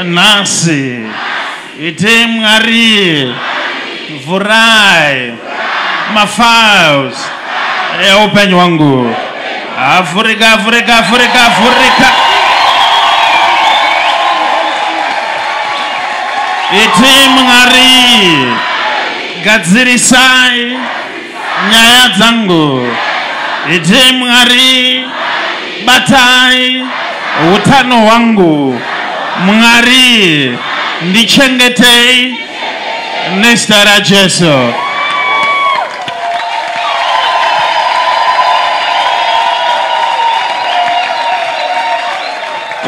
nhasi itei mwari vhurai mafiles eupenyu wangu avhurika avhurika avhurika avhurika itei mwari gadzirisai nyaya dzangu iti mwari batai utano hwangu mwari ndichengetei nezita rajesu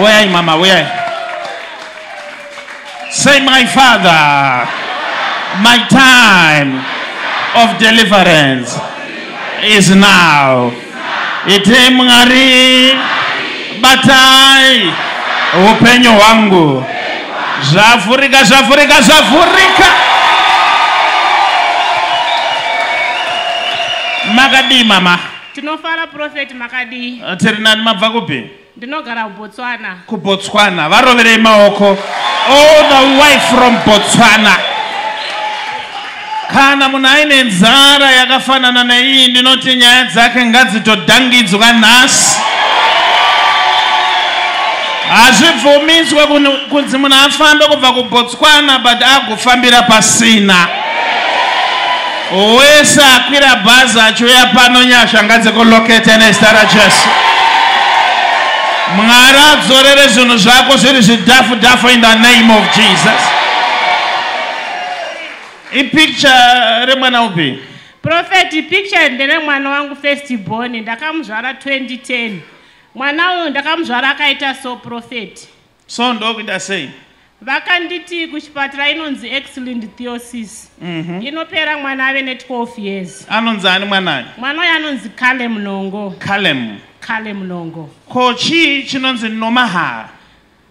uyai mama uyai Say my father, my time of deliverance is now. Ite mwari batai upenyu hwangu zvavhurika zvavhurika zvavhurika makadii mama tinofara profeti makadii tiri nani mabva kupi Ndinogara kuBotswana. KuBotswana. Varoverei maoko. All the way from Botswana. Kana munhu aine nzara yakafanana neiyi ndinoti nyaya dzake ngadzitodhangidzwa nhasi. Hazvibvumiswe kunzi munhu afambe kubva kuBotswana but agofambira pasina. Wese akwira bhazi achiuya pano nyasha ngadzikulokete nezita raJesu. Mwari adzorere zvinhu zvako zviri zvidhafu dhafu in the name of Jesus. Ipicture remwana upi? Prophet, picture ndere mwana wangu first born ndakamuzvara 2010. Mwana uyu ndakamuzvara akaita so prophet. So ndokuita sei? Vakanditi kuchipatara inonzi X-linked theosis. Mm -hmm. Inopera mwana ave ne 12 years. Anonzi ani mwana aya? Mwana uyu anonzi Kale Mnongo. Kale Mnongo. Kale Mnongo. Ko chii chinonzi Nomahaa?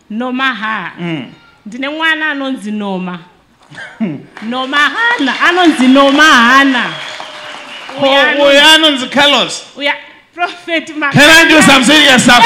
Nomahaa. Mm. Ndine mwana anonzi Noma. nomahana anonzi nomahana uyo anonzi carlos uya prophet can i do some serious stuff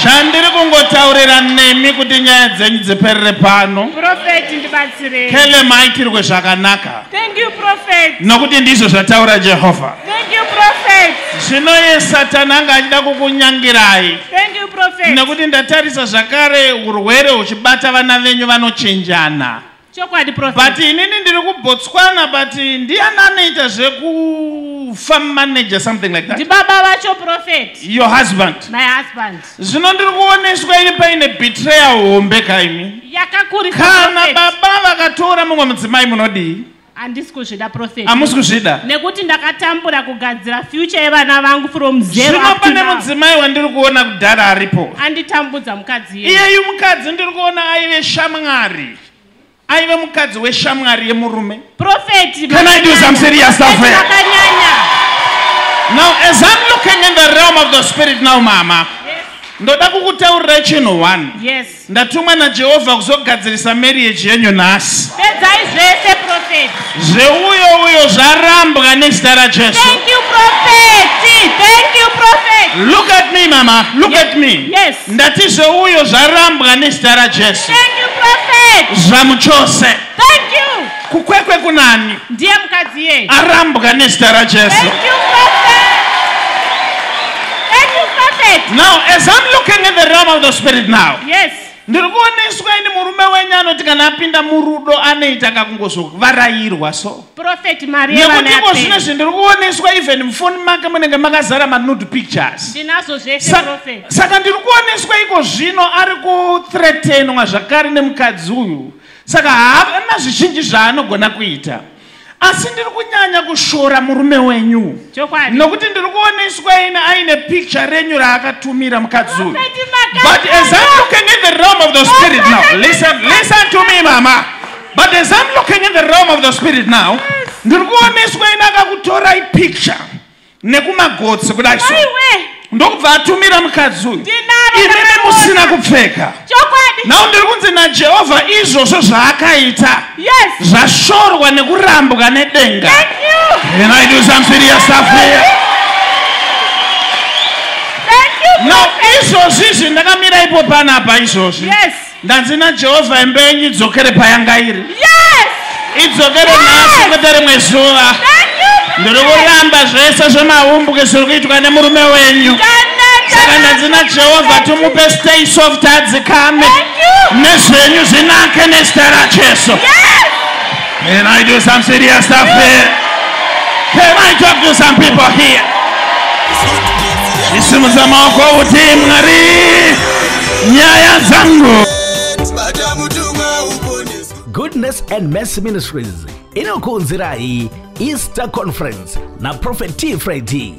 chandiri kungotaurira nemi kuti nyaya dzenyu dziperere pano prophet ndibatsirei kele maitirwe zvakanaka thank you prophet nokuti ndizvo zvataura jehovha Thank you prophet. Zvino ye Satani anga achida kukunyangirai. Thank you prophet. Nekuti ndatarisa zvakare urwere huchibata vana venyu vanochenjana. Chokwadi prophet. But inini ndiri kuBotswana but ndiani anoita zveku farm manager something like that. Ndibaba vacho prophet. Your husband. My husband. Zvino ndiri kuoneswa ini paine betrayal hombe kaimi. Yakakurisa prophet. Kana baba vakatora mumwe mudzimai munodii? handisi kuzvida profet hamusi kuzvida nekuti ndakatambura kugadzira future yevana vangu from zero zvino pane mudzimai wandiri kuona kudhara aripo anditambudza mukadzi iyeyu mukadzi ndiri kuona aive shamwari aive mukadzi weshamwari yemurume profet can i do some serious stuff here now as i'm looking in the realm of the spirit now mama ndoda kukutaurirai chinhu one yes Ndatumwa naJehovha kuzogadzirisa marriage yenyu nhasi. Pedzai zvese prophet. Zveuyo uyo zvarambwa nezita raJesu. Thank you prophet. Thank you prophet. Look at me mama. Look yes. at me. Yes. Ndati zveuyo zvarambwa nezita raJesu. Thank you prophet. Zvamuchose. Thank you. Kukwekwe kunani? Ndiye mukadzi iye. Arambwa nezita raJesu. Thank you prophet. Thank you prophet. Now as I'm looking in the realm of the spirit now. Yes. Ndiri kuoneswa ini murume wenyu anoti kana apinda murudo anoita kakungozovarairwa so. Prophet Maria vana. Nekuti ko zvino zvindiri kuoneswa even mufoni make munenge makazara manude pictures. Ndinazo zvese Sa prophet. Saka ndiri kuoneswa iko zvino ari kuthreatenwa zvakare nemukadzi uyu. saka haana zvizhinji zvaanogona kuita asi ndiri kunyanya kushora murume wenyu Chokwadi. nokuti ndiri kuoneswa ine aine picture renyu raakatumira mukadzi uyu Prophet Makanda. but as i'm looking in the realm of the spirit now Prophet listen listen to me mama but as i'm looking in the realm of the spirit now ndiri kuoneswa ine akakutorai picture nekumagotsi kudai so ndokubva atumira mukadzi uyu imimi musina kupfeka nhau ndiri kunzi najehovha izvozvo zvaakaita zvashorwa nekurambwa nedenga and i do some serious stuff here now izvozvi izvi ndakamira ipo panapa izvozvi yes. Ndanzi naJehovha imba yenyu idzokere payanga iri. Yes! Idzokere nhasi kwete rimwe zuva. Ndiri kuramba zvese zvemahumbuke zviri kuitwa nemurume wenyu. Saka ndanzi naJehovha tumupe stay soft adzikame nezvenyu zvinake nezita raJesu. Yes! Can I do some serious stuff here? Can I talk to some people here? Isimudza maoko uti Mwari nyaya dzangu. Goodness and Mercy Ministries inokuunzirai Easter Conference na Prophet T. Friday.